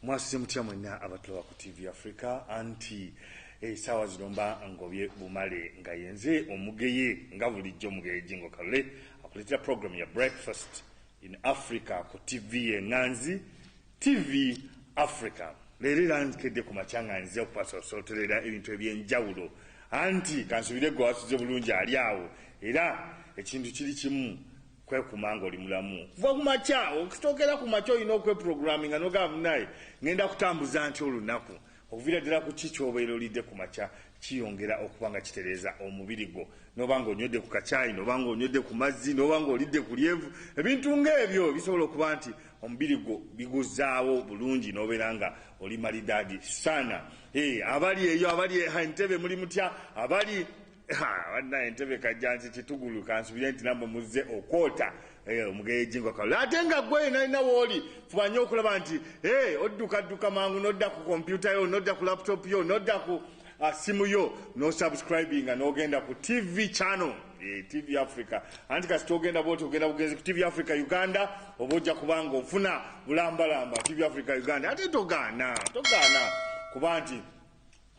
mwasuze mutya mwenna abatulawa ku tv africa anti esaawa eh, zino mba ngobye bumale nga yenze omugeye nga bulijjo omugeye jingo kalule akuleetera program ya breakfast in africa ku tv yenganzi tv africa leero era nkedde ku makya nga nze okupasosoterera ebintu ebyenjawulo anti kansubire gwe wasuze bulungi ali awo era ekintu kiri kimu Kwekuma nga oli mulamu kuva ku makya. Okitookera ku makya olina okweprogramminga n'ogamba munaye ngenda kutambuza ntya olunaku. Okuviira ddala ku ki ky'obeera olidde ku makya kiyongera okuba nga kitereeza omubiri gwo. N'oba nga onywedde ku kacaayi, n'oba nga onywedde ku mazzi, n'oba nga olidde ku lyenvu, ebintu ng'ebyo bisobola okuba nti omubiri gwo biguzzaawo bulungi n'obeera nga oli malidaadi sana. Hee abali eyo, abali e Entebbe muli mutya? Abali. banna entebe kajjansi kitugulu kansubire nti namwe muzze okwota eh, omugeyejingo kalo ate nga gwe nalina wooli fuba nyo okulaba nti eh, oddukadduka mangu nodda ku kompyuta yo nodda ku laptop yo nodda ku ah, simu yo nosubscribinga nogenda ku tv channel eh, tv africa anti kasita ogenda bwoti ogenda bugenzi ku tv africa uganda oba ojja kubanga ofuna bulambalamba tv africa uganda ate togaana togaana kuba nti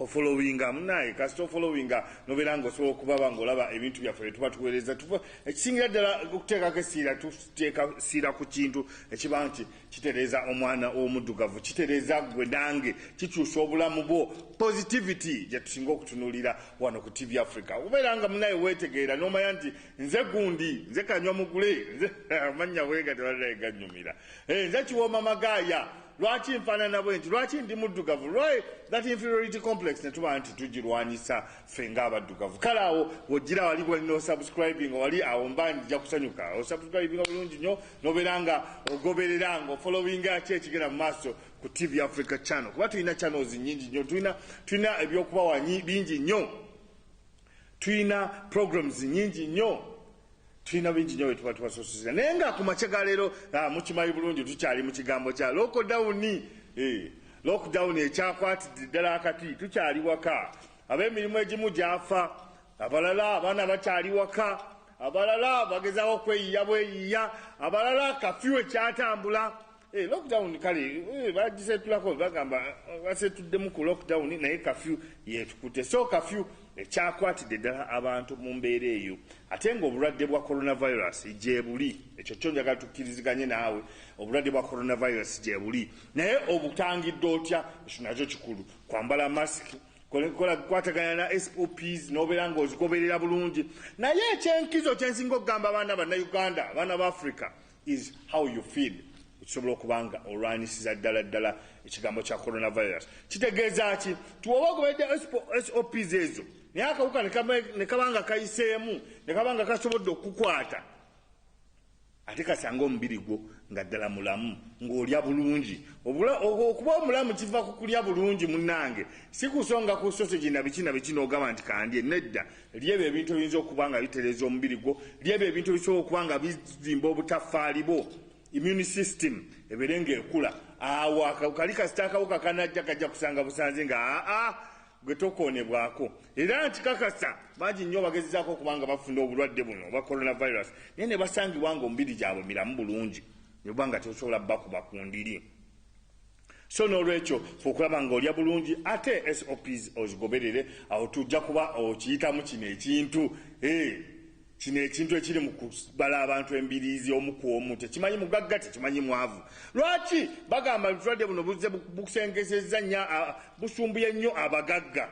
Ofolowinga munaye kasita ofolowinga nobera nga osobola okubaba nga olaba ebintu byaffe byetuba tuwereza tuva ekisingira ddala okuteekako esiira tuteeka siira ku kintu ekiba nti kitereeza omwana omuddugavu kitereeza gwe nange kikyusa obulamu bwo positivity gyetusinga okutunulira wano ku tv africa okubeera nga munaye wetegeera nomanya nti nze gundi nze kanywa mugule nze amannya bwegati banaye ganyumira eh, nze kiwooma magaaya Lwaki nfanana bwenti? Lwaki ndi muddugavu? Why that inferiority complex ne tuba nti tugirwanyisa ffe nga abaddugavu? Kale awo wojjira wali wali no subscribing wali awo mba nja kusanyuka. O subscribing bulungi nyo nobera nga ogoberera nga following ki ekigenda mu maaso ku TV Africa channel. Kuba tulina channels nyingi nyo. Tulina tulina ebyokubawa bingi nyo. Tulina programs nyingi nyo. Tulina bingi nyo byetuba tubasosoza naye nga ku makya ga leero ah, mukimanyi bulungi tukyali mu kigambo kya lokodawuni eh, lockdown ekyakwatidde ddala akati tukyali waka ab'emirimu egimu gyafa abalala abaana bakyali waka abalala bagezaako okweyiya bweyiya abalala kafyu ekyatambula Eh, lockdown kale eh, bagisetulako bagamba eh, basetuddemu ku lockdown naye kafyu yetukute so kafyu ekyakwatidde ddala abantu mu mbeera eyo ate nga obulwadde bwa coronavirus gyebuli ekyo kyo njagala tukkiriziganye naawe obulwadde bwa coronavirus gyebuli naye obutangidde otya ekyo nakyo kikulu kwambala masiki kola kwatagana na SOPs nobeera nga ozigoberera bulungi naye ekyenkizo kyensinga okugamba abaana bannauganda abaana ba africa is how you feel okusobola okuba nga olwanyisiza ddala ddala ekigambo kya coronavirus kitegeeza ki tiwoba ogoberedde sops ezo naye akawuka nekaba nga kayiseemu nekaba nga kasobodde okukwata ate kasanga omubiri gwo nga ddala mulamu ng'olya bulungi okuba omulamu kiva ku kulya bulungi munnange si kusonga ku sosegi na biki na biki n'ogamba nti kandye nedda Lya ebyo ebintu ebiyinza okuba nga bitereeza omubiri gwo. Lya ebyo ebintu ebisobola okuba nga bizimba obutaffaali bwo, immune system ebeere ng'ekula. Awo kali kasita akawuka kanajja kajja kusanga busanze nga aa gwe tokoonebwako. Era nkikakasa bangi nnyo bagezezaako okuba nga bafuna obulwadde buno obwa coronavirus naye ne basangibwa ng'omubiri gyabwe miramu bulungi ne buba nga tebusobola bakuba ku ndiri. So n'olwekyo fuba okulaba nga olya bulungi ate SOPs ozigoberere awo tujja kuba okiyitamu kino ekintu eh, kino ekintu ekiri mu kubala abantu embiriizi omu ku omu tekimanyi mugagga tekimanyi mwavu. Lwaki bagamba nti obulwadde buno buzze busengezezza nnyo busumbuye nnyo abagagga?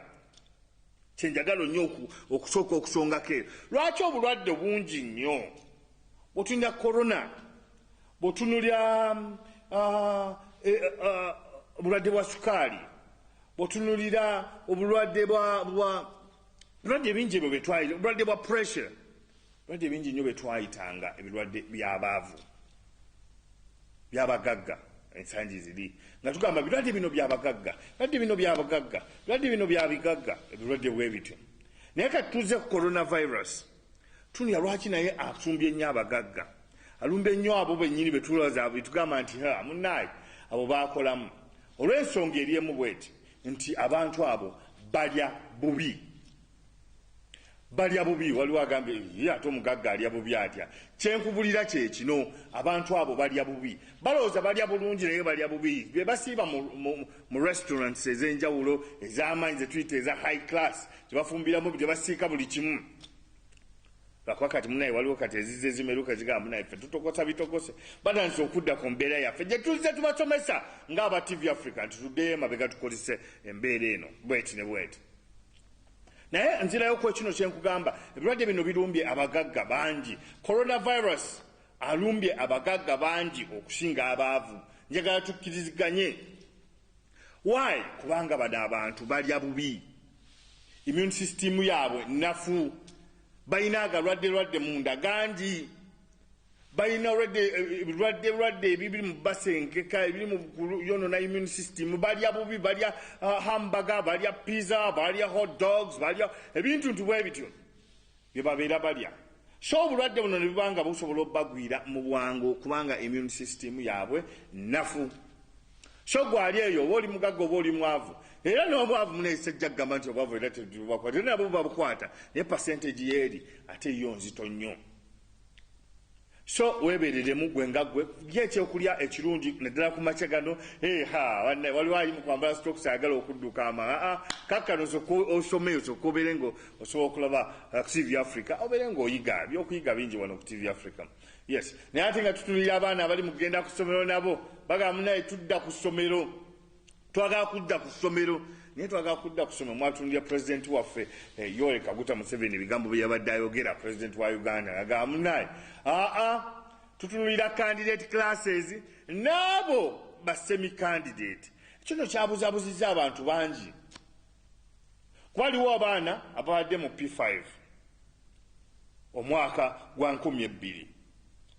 Kye njagala nnyo okusooka okusongako eyo lwaki obulwadde bungi nnyo bwe tulina corona Bwotunulya obulwadde bwa sukaali, bwotunulira obulwadde bulwadde ebingi ebyo betwayita obulwadde bwa pressure, bulwadde ebingi nnyo betwayitanga ebirwadde byabaavu byabagagga ensangi ziri nga tugamba birwadde bino byabagagga birwadde bino byabagagga birwadde bino byabigagga ebirwadde bwebityo naye kati tuze ku coronavirus Tunia lwaki naye asumbye nnyo abagagga alumba ennyo abo bennyini betulaza betugamba nti ha munaayi abo baakolamu olw'ensonga eri emu bweti nti abantu abo balya bubi balya bubi waliwo agambye ye ate omugagga alya bubi atya kyenkubulira kyekino abantu abo balya bubi balowooza balya bulungi naye balya bubi bebasiiba mu restaurants ez'enjawulo ez'amaanyi zetuyita eza high class kyebafumbiramu bye basiika buli kimu lwakuba kati munaye waliwo kati ezize zimeruka zigamba munaye ffe tutokosa bitokose batandise okudda ku mbeera yaffe gye tuzze tubasomesa ng'aba tv africa nti tuddeyo emabega tukozese embeera eno bweti ne bweti naye nzirayo ku ekino kye nkugamba ebirwadde bino birumbye abagagga bangi coronavirus alumbye abagagga bangi okusinga abaavu njagala tukkiriziganye Why? Kubanga bano abantu balya bubi, immune system yaabwe nafu, balina agalwadde lwadde munda gangi, balina ebirwadde eh, lwadde ebibiri mu basengeka ebiri mu yonona immune system, balya bubi, balya uh, hamburger, balya pizza, balya hot dogs, balya ebintu nti bwe bityo. bye babeera balya so obulwadde buno ne buba nga busobola obubagwira mu bwangu kubanga immune system yaabwe nnafu. So gwe ali eyo oba oli mugagga oba oli mwavu era n'obwavu muneyisa ejja kugamba nti obwavu era tebubakwata era nabo bubabukwata naye percentage yeeri ate yo nzito nnyo. So weebeereremu gwe nga gwe, lya ekyokulya ekirungi naddala ku makya gano. Hee ha, bannaye waliwo ali mu kwambala sitookisi ayagala okudduka ama. Ha-a, kaakano osooke osome, osooke obeere nga osobola okulaba TV Africa, obeere nga oyiga. Eby'okuyiga bingi wano ku TV Africa. Yes. Naye ate nga tutunuulira abaana abali mu kugenda ku ssomero nabo, bagamba munnaye tudda ku ssomero. Twagala kudda ku ssomero naye twagala kudda ku ssomero mwatunulira pulezidenti waffe eh, Yoweri Kaguta Museveni ebigambo bye yabadde ayogera pulezidenti wa Uganda ngagamba munaye aa tutunulira candidate classes n'abo basemi candidate kino kyabuzabuzizza abantu bangi kuba waliwo abaana ababadde mu P5 omwaka gwa nkumi ebbiri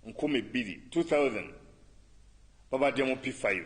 nkumi bbiri 2000 babadde mu P5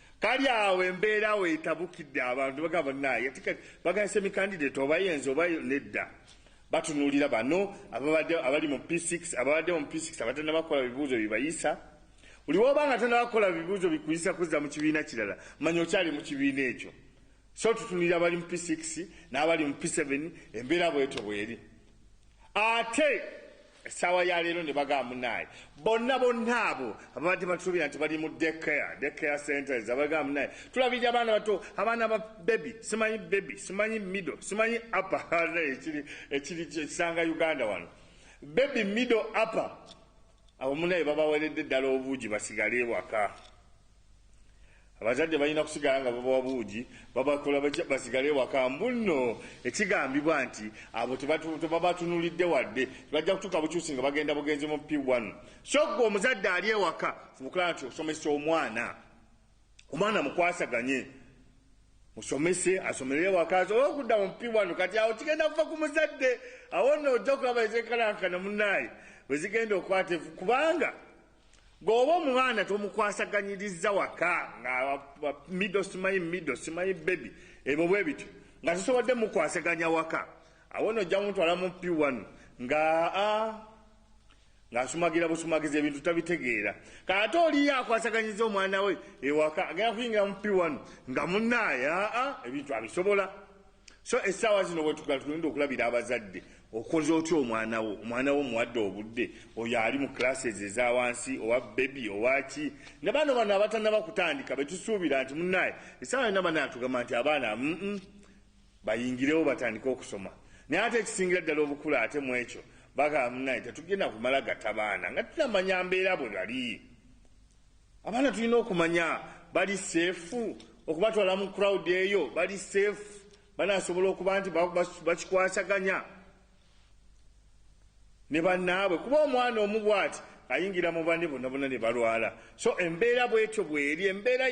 Kali awo embeera awo etabukidde abantu bagamba naye ati kati bagala semikandidate oba yenze oba nedda batunuulira bano ababadde abali mu P6 ababadde mu P6 abatenda bakola bibuuzo bibayisa buli woba nga tenda bakola bibuuzo bikuyisa kuzza mu kibiina kirala manya okyali mu kibiina ekyo so tutunulira abali mu P6 n'abali mu P7 embeera bwetyo bweri ate essaawa ya leero ne bagamba munaaye bonna bonna abo ababadde batusuubira nti bali mu dekare dekare centers abagamba munaaye tulabirira abaana bato abaana ba bebi simanyi bebi simanyi mido simanyi apa ekiri kisanga uganda wano bebi mido apa abo munaye babaweredde ddala obuugi basigale ewaka Abazadde balina kusigala nga babawa buugi babakola batya basigale ewaka. Mbu nno ekigambibwa nti abo tebabatunulidde wadde, bajja kutuuka bukyusi nga bagenda bugenzi mu P one. So ggwe omuzadde ali ewaka fuba okulaba nti osomesa omwana. Omwana mukwasaganye. Musomese asomere ewaka asobole okudda mu P one. Kati awo kigenda kuva ku muzadde. Awo nno ojja kulaba ezenkanankana munnaye bwe zigenda okwata kubanga Bw'oba omwana tomukwasaganyirizza waka nga mido simanyi mido simanyi bebi ebyo bwe bityo nga tusobodde mukwasaganya waka awo no ojja mutwala mu pi wanu nga ng'asumagira busumagiza ebintu tabitegeera kaate oliyo akwasaganyiza omwana we ewaka agenda kuyingira mu pi wanu nga munaaya ebintu abisobola So essaawa zino wetugala tugenda okulabira abazadde okoze otya omwana wo omwana wo muwadde obudde oyo ali mu classes eza wansi owa bebi owaki ne bano bano abatanaba kutandika betusuubira nti munaye essaawa yona bana atugamba nti abaana mm -mm, bayingirewo batandike okusoma naye ate ekisingira ddala obukulu ate mu ekyo bagamba munaye tetugenda kumala gata baana nga tunamanya mbeera bwe bali Abaana tulina okumanya bali seefu okubatwala mu crowd eyo bali seefu banasobola okuba nti bakikwasaganya ne bannaabwe kuba omwana omu bwati ayingira mu banne bonna bonna ne balwala so embeera bwetyo bweri embeera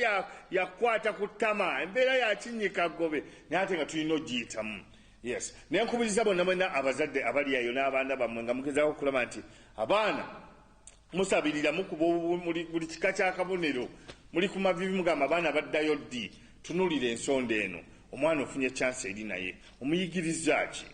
yakukwata ku ttama embeera yakinnyika ggobe naye ate nga tulina ogiyitamu yes naye nkubiriza bonna bonna abazadde abali ayo n'abaana bammwe nga mugezaako okulaba nti abaana Musabirira, mukuba obubumuli, buli kika kya kabonero muli ku maviivi, mugamba abaana baddayo ddi? Tunuulira ensonda eno. Omwana ofunye chance eri naye omuyigirizza ki?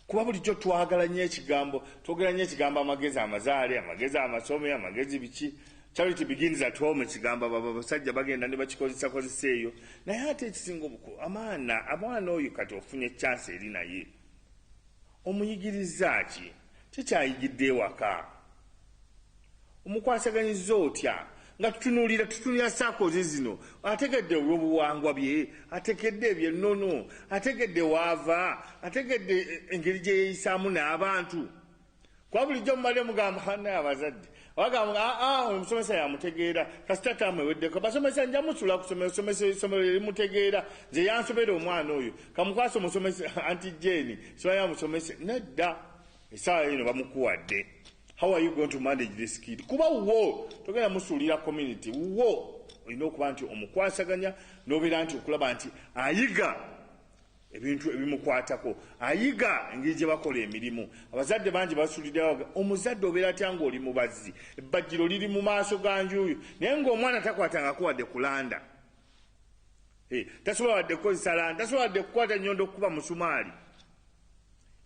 Kuba bulijjo twagala nnyo ekigambo, twogera nnyo ekigambo amagezi amazaale, amagezi amasome, amagezi biki. Charity begins at home ekigamba baba basajja bagenda ne bakikozesa kozesa eyo naye ate ekisinga obuku amaana abwana oyo kati ofunye chance eri naye Omuyigirizza ki? Ki ky'ayigidde ewaka? Omukwasaganyizza otya? Nga tutunuulira, tutunuulira ssaakozi zino, ategedde ebyobuwangwa bye? Ategedde eby'ennono? Ategedde w'ava? Ategedde engeri gye yeeyisaamu n'abantu? Kuba bulijjo mubadde mugamba, Bannaye abazadde! Wagamba nga aa ah, ah, oyo musomesa yamutegeera kasita taamu eweddeko basomesa nja musula kusomero somesa esomero erimutegeera nze yansobera omwana oyo kamukwasa omusomesa anti jeni sibaya musomesa nedda esaawa yino bamukuwadde how are you going to manage this kid kuba wo togenda musuulira community wo olina okuba nti omukwasaganya nobeera nti okulaba nti ayiga ebintu ebimukwatako, ayiga engeri gye bakola emirimu. Abazadde bangi basulidde baga, omuzadde obeera atya ng'oli mubazzi, ebbajjiro liri mu maaso ga njuuyo, naye ng'omwana takwatangako wadde kulanda, tasobola wadde kukozesa landa, tasobola wadde kukwata nnyondo kukuba musumaali.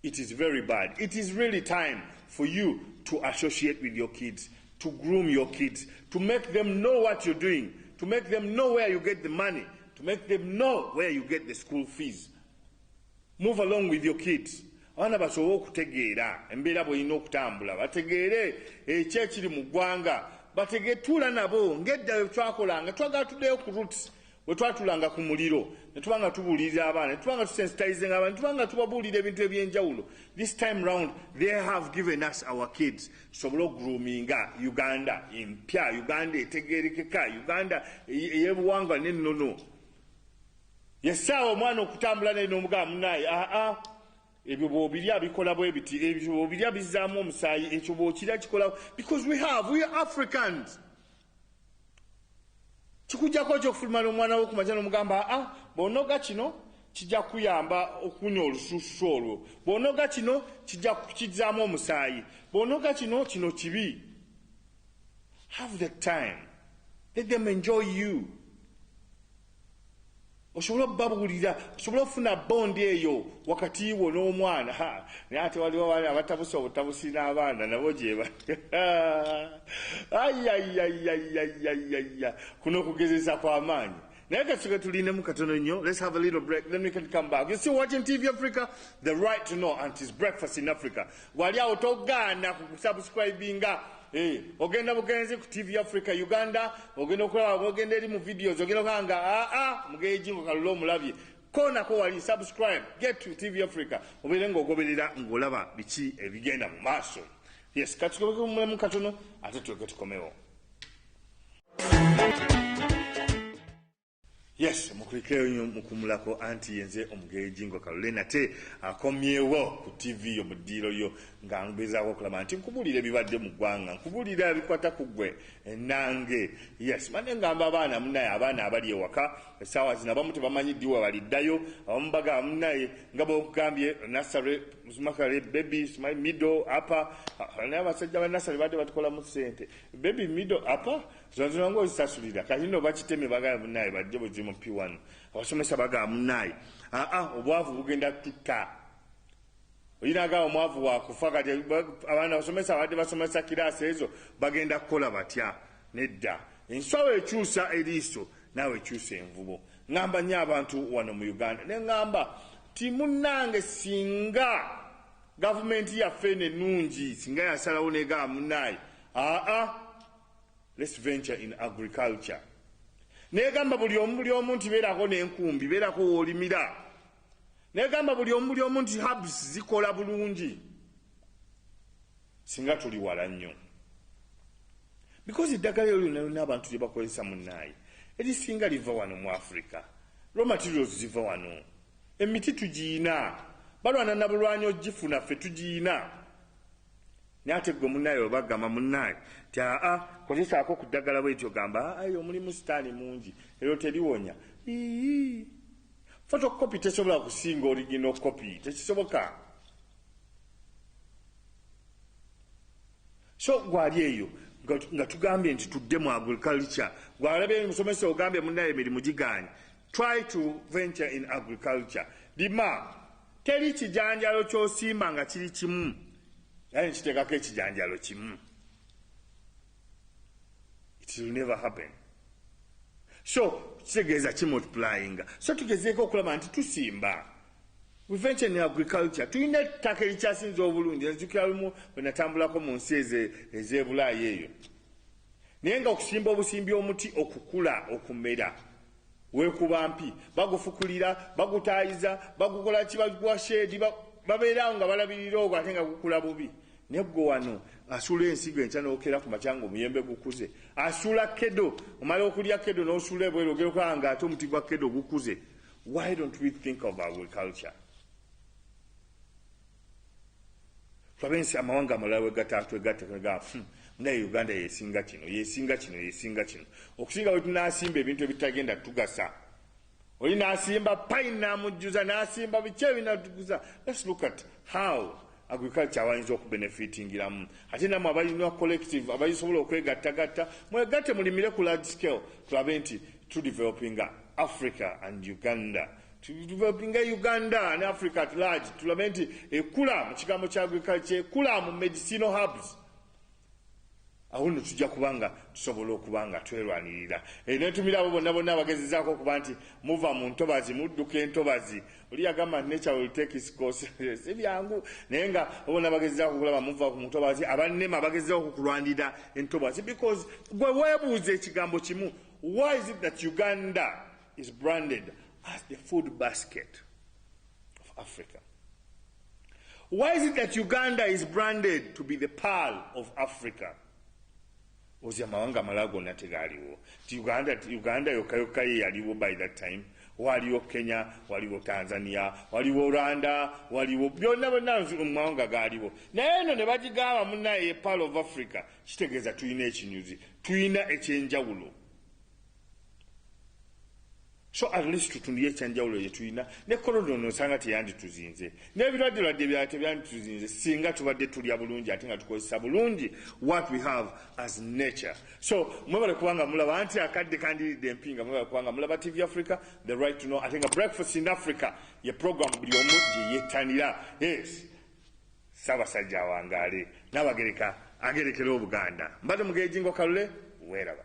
It is very bad. It is really time for you to associate with your kids, to groom your kids, to make them know what you're doing, to make them know where you get the money, to make them know where you get the school fees. Move along with your kids. abaana basobole okutegeera embeera bwolina okutambula bategeere ekyo ekiri mu ggwanga bategetuula nabo ngedda wetwakolanga twagala tuddeyo ku roots Bwe twatulanga ku muliro ne tuba nga tubuulirira abaana, ne tuba nga tusensitizinga abaana, ne tuba nga tubabuulira ebintu eby'enjawulo, this time round they have given us our kids tusobole okugroominga Uganda empya, Uganda etegeerekeka, Uganda ey'ebuwangwa n'ennono. Yessaawa omwana okutambula naye n'omugaba munaaye aa ah, ah, ebyo bw'obirya bikola bwe biti, ebyo bw'obirya bizzaamu omusaayi, ekyo bw'okirya kikola because we have, we are Africans. kikujjako oky okufuluma n'omwana wo ku makya n'omugamba a ah, bw'onoga kino kijja kuyamba okuwunya olususu olwo bw'onoga kino kijja kukizzaamu omusaayi bw'onoga kino kino kibi have the time let them enjoy you osobole okubabuulira osobole okufuna bondi eyo wakati wo n'omwana naye ate waliwo abaana abatabusa obutabusi n'abaana nabo gyeba ayayayayayayaya kuno okugezeza kw'amaanyi naye katuke tulinemu katono nnyo let's have a little break then we can come back you still watching tv africa the right to know and tis breakfast in africa Wali awo togaana ku kusubscribinga eh, ogenda bugenzi ku TV Africa Uganda ogenda okulaba ogenda eri mu videos ogenda okulaba nga aa ah, ah, mugejingo kalula omulabye konako wali subscribe get to TV Africa obeere ng'ogoberera ng'olaba biki ebigenda mu maaso yes katukobeke mumulemu katono ate tuyoke tukomewo Yes, mukulikeyo nyo mukumulako anti yenze omugeyi jingo kalule nate akomyewo ku TV yo mudiiro yo nga ngezaako okulaba nti nkubulira ebibadde mu ggwanga nkubulira ebikwata ku gwe enange yes mane ngamba abaana munaye abaana abali ewaka esaawa zino abamu tebamanyi ddi webaliddayo abamu bagaba munaye nga bwokugambye nasare makare baby my middle apa naye abasajja ba nasare badde batukolamu sente baby middle apa Zino zino nga ozisasulira kati no bakiteme bagala munaye bajje bujje mu P1 abasomesa bagala munaye aa ah, ah, obwavu bugenda tutta oyinaga omwavu wakufa kati abaana abasomesa abadde basomesa kiraasi ezo bagenda kukola batya nedda enswawo ekyusa eriiso naawe ekyusa envubo ŋamba nyo abantu wano mu uganda ne ŋamba timunange singa gavumenti yaffe enenungi singa yasalawo negaba munaye aa ah, Let's venture in agriculture. Negamba buli omu buli omu nti beerako n'enkumbi, beerako w'olimira. Negamba buli omu buli omu nti herbs zikola bulungi. Singa tuli wala nnyo. Because eddagala eryo lyonna lyonna abantu lye bakozesa munnaayi erisinga liva wano mu Afrika. Raw materials ziva wano. Emiti tugiyina. Balwana na bulwanyi ogifuna ffe tugiyina. Naye ate ggwe munnaye oba gamba munnaye nti aa kozesaako ku ddagala bwetyo gamba ayi omulimu sitaani mungi eryo teriwonya iii fotokopi tesobola kusinga origino kopi tekisoboka so gwali eyo nga tugambye nti tudde mu agriculture gwalabye omusomesa ogambye munnaye emirimu giganye try to venture in agriculture lima Teri kijanjalo kyosimba nga kiri kimu era nekitekako ekijanjalo kimu it will never happen so kitegeeza ki multiplyinga so tugezeeko okulaba nti tusimba prevention in agriculture tulina ettaka erikyasinza obulungi enzukira lumu bwenatambulako mu nsi ezebulaayi eyo naye nga okusimba obusimbi omuti okukula okumera Weekuba mpi, bagufukulira, bagutaayiza, bagukola ki, baguwa sheedi, ba, babeera awo nga balabirira ogwo ate nga gukula bubi. Ne ggwe wano asula ensigo enkya n'okeera ku makya ng'omuyembe gukuze. Asula kedo, omala okulya kedo n'osula ebweru ogenda okulaba ng'ate omuti gwa kedo gukuze. Why don't we think of agriculture? Twabensi amawanga amalala wegata twegatta tunaga hmm, naye Uganda yesinga kino yesinga kino yesinga kino okusinga bwe tunasimba ebintu ebitagenda tugasa oli nasimba pine namujjuza nasimba biki ebinatuguza let's look at how agriculture abayinza okubenefitingiramu ate namwe abalina collective abayisobola okwegattagatta mwegatte mulimire ku large scale tulabe nti tudevelopinga africa and uganda tudevelopinga uganda ne africa at large tulabe nti ekula mu kigambo kya agriculture ekula mu medicinal hubs awo no tujja kuba nga tusobola okuba nga twerwanirira e, netumira abo bonna bonna abagezezaako okuba nti muva mu ntobazi mudduka entobazi oli yagamba nti nature will take its course si byangu naye nga bona bagezezaako okulaba muva ku ntobazi abannema bagezezaako okukulwanirira entobazi because gwe weebuuza ekigambo kimu why is it that uganda is branded as the food basket of Africa. Why is it that Uganda is branded to be the pearl of Africa? ozi amawanga amalala gonna tegaaliwo ti uganda uganda yokka yokka ye yaliwo by that time waliwo kenya waliwo tanzania waliwo rwanda waliwo byonna byonna mumawanga gaaliwo naye eno ne bagigamba munaye ye pearl of africa kitegeeza tulina ekinyuzi tulina ekyenjawulo so at least tutundiyo ekyanjawulo yetulina ne kolona ono osanga teyandituzinze nebirwadde lwadde bya tebyandituzinze singa tubadde tulya bulungi ate nga tukozesa bulungi what we have as nature so mwebale kubanga mulaba nti akadde kandiridde empinga mwebale kubanga mulaba tv africa the right to know ate nga breakfast in africa ye program buli omu gyeyetanira yes Ssabasajja awangaale. Nabagereka agerekere obuganda. Mbadde mugeejingo kalule. Weeraba.